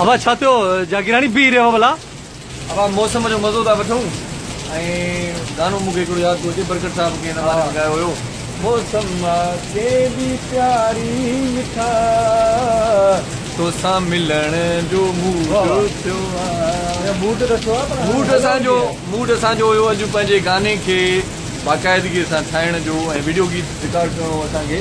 ابا ڇا ٿيو جاگيراڻي بيهي رهيو ڀلا. ابا موسم جو مزو ٿا وٺون ۽ گانو مون کي هڪڙو ياد ٿو اچي برڪت صاحب ڪنهن زماني ۾ ڳايو هيو. موسم کي به پياري مٺا توسان ملڻ جو موڊ ٿيو آ. موڊ ته ٿيو آ پر موڊ اسان جو موڊ اسان جو هيو اڄ پنهنجي گاني کي باقاعدگي سان ٺاهڻ جو ۽ وڊيو گيت رڪارڊ ڪرڻو هو اسان کي.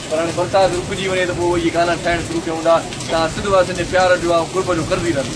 پر هاڻي برسات رڪجي وڃي ته پوء اهي گانا ٺاهڻ شروع ڪيون ٿا، تان سنڌ واسين جي پيار جو ۽ قرب جو قرضي رهندو.